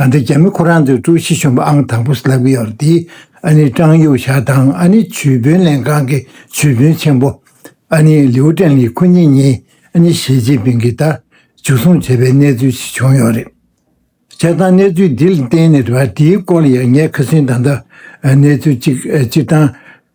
གང་ལྟར་རྒྱ་མི་ཁོ་རང་ཚོའི་ཀྲུའུ་ཞི་གཞོན་པ་ཨང་དང་པོ་སླེབས་ཀྱི་ཡོད་དེ། ཨ་ནེ་ཀྲང་ཡུའུ་ཞའོ་དང་ཨ་ནེ་ཇུས་དཔོན་ལན་ཀང་གི་ཇུས་དཔོན་ཆེན་པོ་ཨ་ནེ་ལིའུ་ཀྲེང་ལི་ཁོ་གཉིས་གཉིས་ཨ་ནེ་ཞི་ཅིན་ཕིང་གིས་ལྟ་འཇུ་བཟུང་བྱས་པའི་གནས་ཚུལ་ཞིག་བྱུང་ཡོད་རེད། བྱས་ཙང་གནས་ཚུལ་འདི་ལ་བརྟེན་ནས་འདིའི་སྐོར་ལ་ཡང་ངས་ཁ་སིན་དང་ལྟ་གནས་ཚུལ་གཅིག་སྤྱིར་བཏང།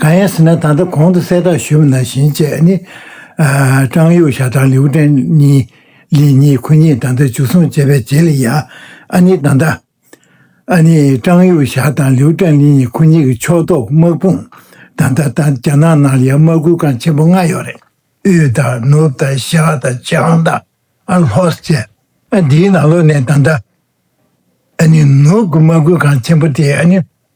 གང་ཡིན་ཟེར་ན་ད་ལྟ་གོང་དུ་གསལ་བསྒྲགས་ཞུས་པ་ནང་བཞིན་བཅས་ནི། ཀྲང་ཡུའུ་ཞའོ་དང་ལིའུ་ཀྲེང་ཉི་ལི་གཉིས་ཁོ་གཉིས་ད་ལྟ་འཇུ་བཟུང་བྱས་པའི་རྗེས་ལ་ཡང་ཨ་ནི་ད་ལྟ། ཨ་ནི་ཀྲང་ཡུའུ་ཞའོ་དང་ལིའུ་ཀྲེང་ལི་གཉིས་ཁོ་གཉིས་ཀྱི་ཕྱོགས་གཏོགས་དམག་དཔུང་ད་ལྟ་ད་རྒྱ་ནག་ནང་ལ་ཡང་དམག་ཁུལ་ཁང་ཆེན་པོ་ལྔ་ཡོད་རེད། དབུས་དང་ནུབ་དང་ཤར་དང་བྱང་དང་ལྷོ་བཅས་འདིའི་ནང་ལོགས་ནས་ད་ལྟ། ཨ་ནི་ནུབ་ཀྱི་དམག་ཁུལ་ཁང་ཆེན་པོ་དེ་ཨ་ནི་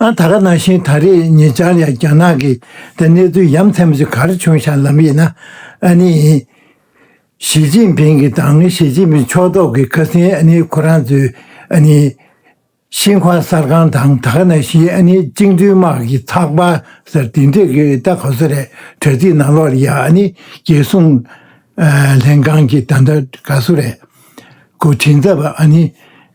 ཨ་ད་ག་ནང་བཞིན་ད་རེས་ཉེ་ཆར་ཡང་རྒྱ་ནག་གིས་ད་གནས་ཚུལ་ཡ་མཚན་མ་ཞིག་གར་བྱུང་ཤག་ལམ་ཡིན་ན་ཨ་ནི་ཡིན། ཞིས་ཅིན་ཕིང་གི་དང་ཞིས་ཅིན་ཕིང་ཕྱོགས་གཏོགས་ཀྱི་ཁ་སིན་ཨ་ནི་ཁོ་རང་ཚོའི་ཨ་ནི་ཤིན་ཧྭ་གསར་ཁང་དང་ད་ག་ནང་བཞིན་ཨ་ནི་བཅིངས་འགྲོལ་དམག་གི་ཚགས་པར་སར་དེ་འབྲེལ་གྱི་ལྟ་ག་ཟེ་རེད་དྲ་ཚིགས་ནང་ལོགས་ལ་ཡ་ཨ་ནི་རྒྱལ་སྲུང་ལྷན་ཁང་གི་ད་ལྟ་ག་ཟུ་རེད་གོ་དྲིན་ཚབ་ཨ་ནི།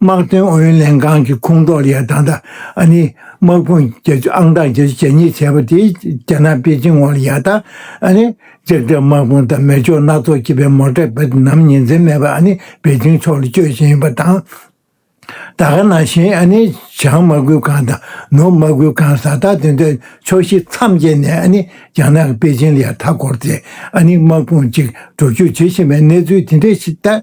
དམག་དོན་ཨུ་ཡོན་ལྷན་ཁང་གི་ཁོངས་གཏོགས་ལིའ་དང་ཏཱ་ཨ་ནི་དམག་དཔུང་རྒྱ་ཆུ་ཨང་གྲངས་བརྒྱད་ཅུ་གྱ་གཉིས་བྱས་པ་དེས་རྒྱ་ནག་པེ་ཅིང་འོག་ལིའ་དང་ཨ་ནི་ལྕགས་དྲེག་དམག་དཔུང་དང་མེ་སྒྱོགས་སྣ་ཚོགས་ཀྱི་པད་མོ་དྲེག་པའི་ནམ་ཉིན་འཛེམ་མེད་པར་ཨ་ནི་པེ་ཅིང་ཕྱོགས་ལ་སྐྱོད་བཞིན་ཡོད་པ་དང། ད་ག་ན་བཞིན་ཨ་ནི་བྱང་དམག་གུར་ཁང་དང་ནུབ་དམག་གུར་ཁང་གཟའ་ཟླ་དེ་འདྲའི་ཕྱོགས་བཞི་མཚམས་བརྒྱད་ནས་ཨ་ནི་རྒྱ་ནག་གི་པེ་ཅིང་ལིའ་མཐའ་བསྐོར་ཏེ་ཨ་ནི་དམག་དཔུང་གཅིག་འགྲོ་བསྐྱོད་བྱེད་བཞིན་པའི་གནས་ཚུལ་དེ་འདྲའི་ཐད།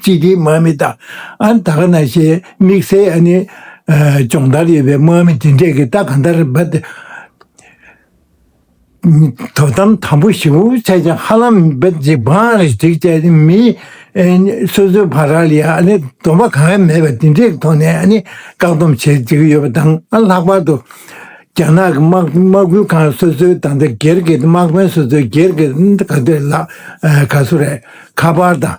གཅིག་གིས་དམག་མི་དང་ཨ་དཀར་ནག་ཞེས་དམིགས་བསལ་ཨ་ནི་སྦྱོང་བརྡར་ཡོད་པའི་དམག་མི་དེ་འདྲས་ཀྱིས་རྟ་གང་ལྟར་འབབ་སྟེ། དོ་དམ་དམ་པོ་ཞིབ་མོ་བྱས་ཀྱང་ཧ་ལམ་འབབ་ཅིག་འབངས་རེ་ཟིག་བཅས་ནི་མི་སོ་སོའི་བར་ར་ལས་ཨ་ནི་སྡོམ་པ་གང་ཡང་མེད་པ་དེ་འདྲས་ཐོག་ནས་ཨ་ནི་བཀག་སྡོམ་བྱེད་བཅུག་གི་ཡོད་པ་དང་ཨ་ལྷག་པར་དུ། རྒྱ་ནག་གི་དམག་ཁུལ་ཁང་སོ་སོའི་དང་ཐད་སྒེར་གྱི་དམག་དཔོན་སོ་སོའི་སྒེར་གྱི་ག་དུས་ལ་ག་སུ་རེ་ཁ་པར་དང།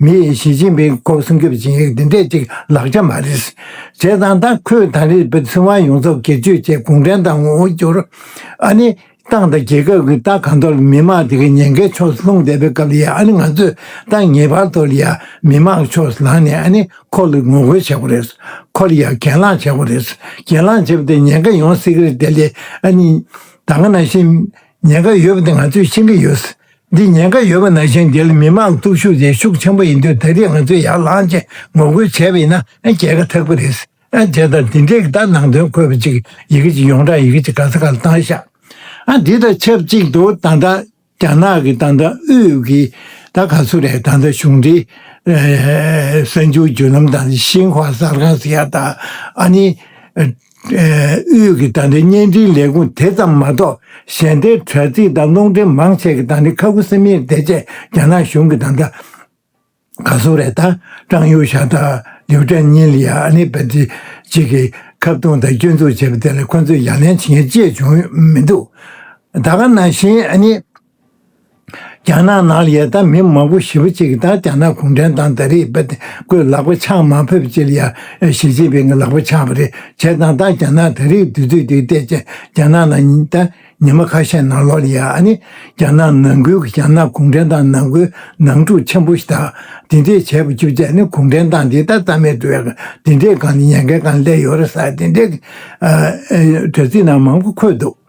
མིས་ཞི་ཅིན་ཕིང་སྐོར་སྲུང་སྐྱོབ་བྱེད་ཡུལ་འདི་འདྲས་ཅིག་ལག་ཆ་མ་རེད། བྱས་ཙང་ཏང་ཁོས་དང་རིགས་པའི་ཚུན་དབང་ཡོངས་རྫོགས་སྒེར་གཅོད་བྱས་གུང་ཁྲན་ཏང་ངོ་བོ་འགྱུར། ཨ་ནི་ཏང་དང་རྒྱལ་ཁབ་ཀྱི་ཏང་གང་དོར་མི་མང་དེ་གའི་ཉེན་ཁའི་ཕྱོགས་སུ་ལྷུང་བསྡད་པའི་སྐབས་ལ་ཡང་ཨ་ནི་ང་ཚོས་ཏང་ངེས་པར་དོར་ཡ་མི་དམངས་ཀྱི་ཕྱོགས་སུ་ལངས་ནས་ཨ་ནི་ཁོ་ལ་ངོ་རྒོལ་བྱེད་དགོས་རེད། ཁོ་ལ་ཡང་གྱེན་ལངས་བྱེད་དགོས་རེད། གྱེན་ལངས་བྱས་པ་དེ་ཉེན་ཁ་ཡོང་སྲིད་གི་རེད་དེ་ལས་ཨ་ནི་ད་ག་ན་ཤི། ཉེན་ཁ་ཡོད་པ་དེ་ང་ཚོས་ཤེས་ཀྱི་ཡོད། འདི་ཉེན་ཁ་ཡོད་པ་ནང་བཞིན་རྒྱལ་མི་མང་སྟོབས་ཤུགས་དེ་ཤུགས་ཆེན་པོ་ཡིན་དུས་ད་རེས་ང་ཚོས་ཡར་ལངས་ཆེད་ངོ་རྒོལ་བྱས་པ་ཡིན་ན་རྒྱལ་ཁ་ཐག་པོ་རེད། བྱས་ཙང་འདི་འདྲའི་གདའ་ནང་དོན་འཁོད་པ་ཅིག་ཡི་གེ་ཅིག་ཡོངས་གྲགས་ཡི་གེ་ཅིག་ག་ཚ་ག་ལ་བཏང་ཤག། འདི་དང་ཆབས་ཅིག་ཏུ་ད་ལྟ་རྒྱ་ནག་གི་ཏང་ཀྲང་ཨུད་ཀྱིས་ད་ག་ཚོད་རེད་ད་ལྟ་གཞུང་འབྲེལ་གསར་འགྱུར་བརྒྱུད་ལམ་དང་ཤིན་ཧྭ་གསར་ཁང་ཟེར་ཡག་དང་ཨ་ནི། དབུས་ཀྱི་དང་ལེན་བརྙན་འཕྲིན་ལས་ཁུངས་དེ་ཙམ་མ་གཏོགས་གཞན་སྡེའི་དྲ་ཚིགས་དང་རླུང་འཕྲིན་མང་ཆེ་གི་དང་ལེན་ཁ་ཁུ་སིམ་མེར་བསྡད་རྗེས་རྒྱ་ནག་གཞུང་གི་དང་དྲ་ག་སུ་རེ་དང་ཀྲང་ཡུའུ་ཞང་དང་ལིའུ་ཀྲན་ཉིན་ལི་ཡང་ཨ་ནེ་བེ་ཙི་བཅས་ཀྱིས་ཁ་བརྡུང་དང་སྐྱོན་འཛུགས་བྱས་པ་དེ་ལ་ཁོ་ཚོས་ཡ་ལན་བྱེད་མཁན་ཅིས་བྱུང་མི་འདུག་ད་ག་ནང་བཞིན་ཨ་ནེ་རྒྱ་ནག་ནང་ལ་ཡལ་དམ་མི་མང་པོ་ཞི་བ་གཅིག་དང་རྒྱ་ནག་གུང་ཁྲན་ཏང་ད་རེས་པད་སྐོས་ལག་པ་འཆང་མ་ཕེབས་ཅི་ལ་ཡར་ཞི་ཅིན་ཕིང་གི་ལག་པ་འཆང་བ་རེད་བྱས་དང་ད་རྒྱ་ནག་ད་རེས་དུས་ཚོད་དེ་བལྟས་ཅན་རྒྱ་ནག་ནང་ད་ཉི་མ་ཁ་ཤས་ནང་ལོག་ལ་ཡར་ཨ་ནི་རྒྱ་ནག་ནང་ཁུལ་གྱི་རྒྱ་ནག་གུང་ཁྲན་ཏང་ནང་ཁུལ་ནང་འཁྲུག་ཆེན་པོ་ཞིག་དང་དེ་འདྲས་བྱས་པ་བཅུ་བཅས་ནི་གུང་ཁྲན་ཏང་འདི་ད་རྩ་མེད་དུ་ཡག་དེ་འདྲས་གང་ནས་ཉན་མཁན་གང་སླད་ཡོད་རེད་ས་དེ་འདྲས་ཀྱི་དྲ་ཚིགས་ནང་མང་པོ་འཁོད་འདུག།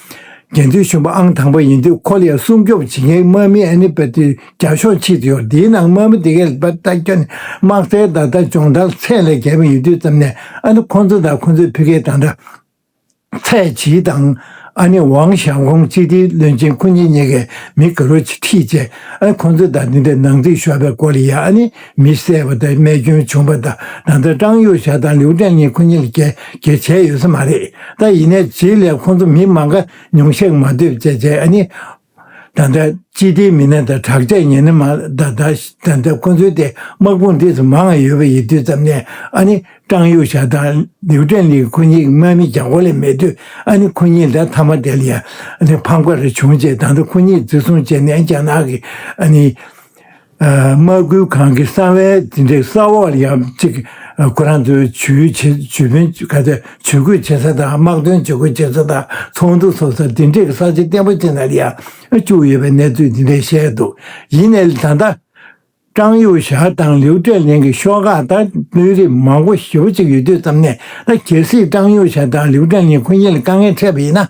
རྒྱལ་མཚན་གཞོན་པ་ཨང་དང་པོ་ཡིན་དུས་ཁོ་ལ་སྲུང་སྐྱོབ་བྱེད་མཁན་དམག་མི་ཨན་ནི་པེ་ཏི་རྒྱ་གཞུང་ཕྱིར་དུ་ཡོད་དེའི་ནང་དམག་མི་དེ་གའི་ལས་པ་ལྟ་སྐྱོན་དམག་རྩལ་བདག་ལྟ་སྦྱོང་བརྡར་ཚད་ལས་བརྒལ་བ་ཡོད་དུས་ཙམ་ནས་ཨ་ནི་ཁོང་ཚོ་དང་ཁོང་ཚོའི་བུ་གའི་དང་འདྲ། ཚའེ་ཆི་དང་ཨ་ནི་ཝང་ཞང་ཀོང་གཅིག་སྡེའི་བློན་ཆེན་ཁོ་གཉིས་གཉིས་ཀའི་མི་ག་རོ་ཆིག་ཁྲིས་བཅད་ཨ་ནི་ཁོང་ཚོའི་དང་འདི་འདྲའི་ནང་རྩིས་ཤོར་བའི་སྐོར་ལ་ཡང་ཨ་ནི་མི་བསད་པ་དང་རྨས་སྐྱོན་བྱུང་པ་དང་ན་ཚ་ཀྲང་ཡོ་ཞའོ་དང་ལིའུ་ཀྲན་ཉིན་ཁོ་གཉིས་ལ་རྒྱལ་གྱེས་བྱས་ཡོད་ས་མ་རེད་ད་ཡིན་ནས་ཇི་སླད་ཁོང་ཚོ་མི་མང་ཁ་ཉུང་བཤགས་མ་འདོད་ཅེས་བྱས་ཨ་ནི། ད་ལྟ་སྤྱི་བདེའི་མི་སྣ་དང་དྲག་ཆས་ཉེན་མ་ད་ད་ད་ད་ཁོང་ཚོའི་དེ་དམག་དཔུང་འདི་ཚོ་མང་ང་ཡོད་པ་ཡིན་དུས་ཙམ་ནས་ཨ་ནི་ཀྲང་ཡོ་ཞའོ་དང་ལིའུ་ཀྲན་ལིའི་ཁོ་གཉིས་དམག་མི་རྒྱག་གོ་ལེ་མེད་དུས་ཨ་ནི་ཁོ་གཉིས་ད་མཐའ་མ་དེ་ལ་ཡང་ཕམ་ཁ་རེ་བྱུང་རྗེས་ད་ལྟ་ཁོ་གཉིས་འཛིན་བཟུང་བྱས་ནས་རྒྱ་ནག་གི་ཨ་ནི། དམག་སྐུལ་ཁང་གི་གསང་བའི་འཛིན་གྲྭའི་ས་འོག་ལ་ཡང་གཅིག་ཁོ་རང་ཚོའི་ཇུས་འགོད་བྱེད་ས་དང་དམག་དོན་ཇུས་འགོད་བྱེད་ས་དང་ཚོགས་འདུ་འཚོགས་ས་འདི་འདྲའི་ས་ཆ་བརྟན་པོ་ཅན་དག་ལ་ཡང་བཅུག་ཡོད་པའི་གནས་ཚུལ་འདི་འདྲ་བཤད་འདུག་ཡིན་ནའི་ད་ལྟ། ཀྲང་ཡུས་ཞའོ་དང་ལིའུ་ཀྲེ་ལེང་གི་ཤོག་ཁག་དང་དཔོན་རིགས་མང་པོ་ཞེ་བོ་གཅིག་ཡོད་དུས་ཙམ་ནས་ད་གལ་སྲིད་ཀྲང་ཡུས་ཞའོ་དང་ལིའུ་ཀྲེ་ལེང་ཁོ་གཉིས་ལ་དཀའ་ངལ་འཕྲད་པ་ཡིན་ན།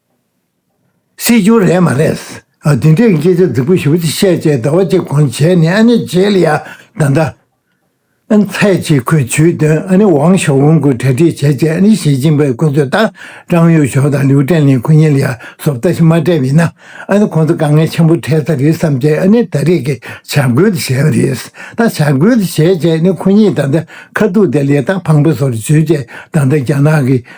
སྲིད་འབྱོར་རེད་མ་རེད། འདི་འདྲའི་སྐད་ཆ་རྫིག་པོ་ཞིག་བཤད་བྱས་ཟླ་བ་གཅིག་གོང་བྱས་ནས་ཨ་ནི་བྱས་ལ་ཡག་ད་ད། ཚའེ་ཆི་ཁོས་ཇུས་འདོན་ཨ་ནི་ཝང་ཞའོ་ཝུན་གྱི་གྲ་སྒྲིག་བྱས་བྱས་ཨ་ནི་ཞི་ཅིན་པའི་གོ་ཚོད་ལྟར་ཀྲང་ཡུས་ཞོ་དང་ལིའུ་ཀྲན་ལིན་གོ་གཉིས་ལ་ཡར་ཟོབ་ལྟ་ཞིག་མ་སྤྲད་པའི་ན་ཨ་ནི་ཁོང་ཚོ་དཀའ་ངལ་ཆེན་པོ་འཕྲད་ས་རེད་བསམ་བྱས་ཨ་ནི་ད་རེས་ཀྱི་བྱ་འགུལ་དེ་བྱས་པ་རེད་ད་བྱ་འགུལ་དེ་བྱས་བྱས་ནས་ཁོ་གཉིས་ད་ད་ཁ་ཐུག་དེ་ལས་ཐག་འཕང་པོ་བཟོ་རུ་བྱོས་བྱས་ད་ད་རྒྱ་ནག་གི་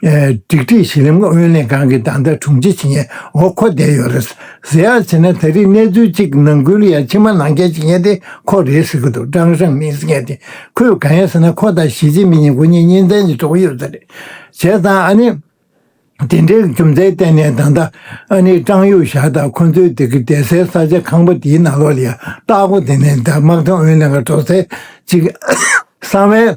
སྒྲིག་ཁྲིད་གཞི་རིམ་ཨུ་ཡོན་ལྷན་ཁང་གི་བདག་ཟླ་དྲུང་ཆེ་ཆིང་ཡའོ་མཁོ་བསྡད་ཡོད་རེད། གཟི་ཡག་བྱས་ན་ད་རིས་གནས་ཚུལ་གཅིག་ནང་ཁུལ་ཡ་ཕྱི་མ་ནང་རྐྱལ་ཅིག་ཡན་དེ་ཁོ་རེད་ཟེར་གི་འདུག་ཀྲང་ཧྲང་མིང་ཟེར་མཁན་དེ་ཁོས་གང་ཡང་ཟེར་ན་ཁོ་དང་ཞི་ཅིན་པིན་གཉིས་མགོ་གཉིས་གཉིས་མཚན་གྱི་གྲོགས་ཡོད་ས་རེད། བྱས་ཙང་ཨ་ནི། དེ་འདྲའི་རྒྱུ་མཚན་གཏན་ནས་གདང་ད། ཨ་ནི་ཀྲང་ཡུས་ཞའོ་དང་ཁོ་ཚོའི་སྡེ་ཁུལ་བསྡད་སའི་ས་ཆ་ཁང་པ་དེའི་ནང་ལོགས་ལ་ཡང་བརྟག་གོ་དེ་ནས་ད་དམག་དོན་ཨུ་ཡོན་ལྷན་ཁང་འགྲོ་ཚེ་གཅིག་གསང་བའི་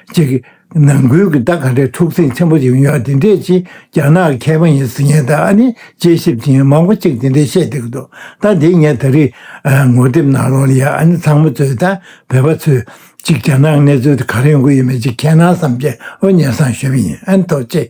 གཅིག། ནང་ཁུལ་གྱི་བརྡ་ག་འདྲའི་འཁྲུག་ཟིང་ཆེན་པོ་ཞིག་ཡོད་དེ་འདྲས་ཆེ་རྒྱ་ནག་གི་མཁས་པ་ཡིན་ཟིན་ངས་ད་ནི་དཔྱད་ཞིབ་ཅིང་མང་པོ་གཅིག་དེ་འདྲས་བཤད་འདི་གི་འདུག་ད་འདི་ངས་ད་རིས་ངོ་དེབ་ནང་ལོག་ལ་ཡ་ཨ་ནི་ཚང་མ་ཚོས་ད་བོད་པ་ཚོས་གཅིག་རྒྱ་ནག་གནས་ཚུལ་དེ་ག་རེ་ཡོང་གི་ཡོད་མེད་ཅིག་མཁྱེན་ན་བསམ་གྱི་ཨོ་ཉལ་སང་ཞུས་པ་ཡིན་ཨ་ནི་ཐོག་ཅེས།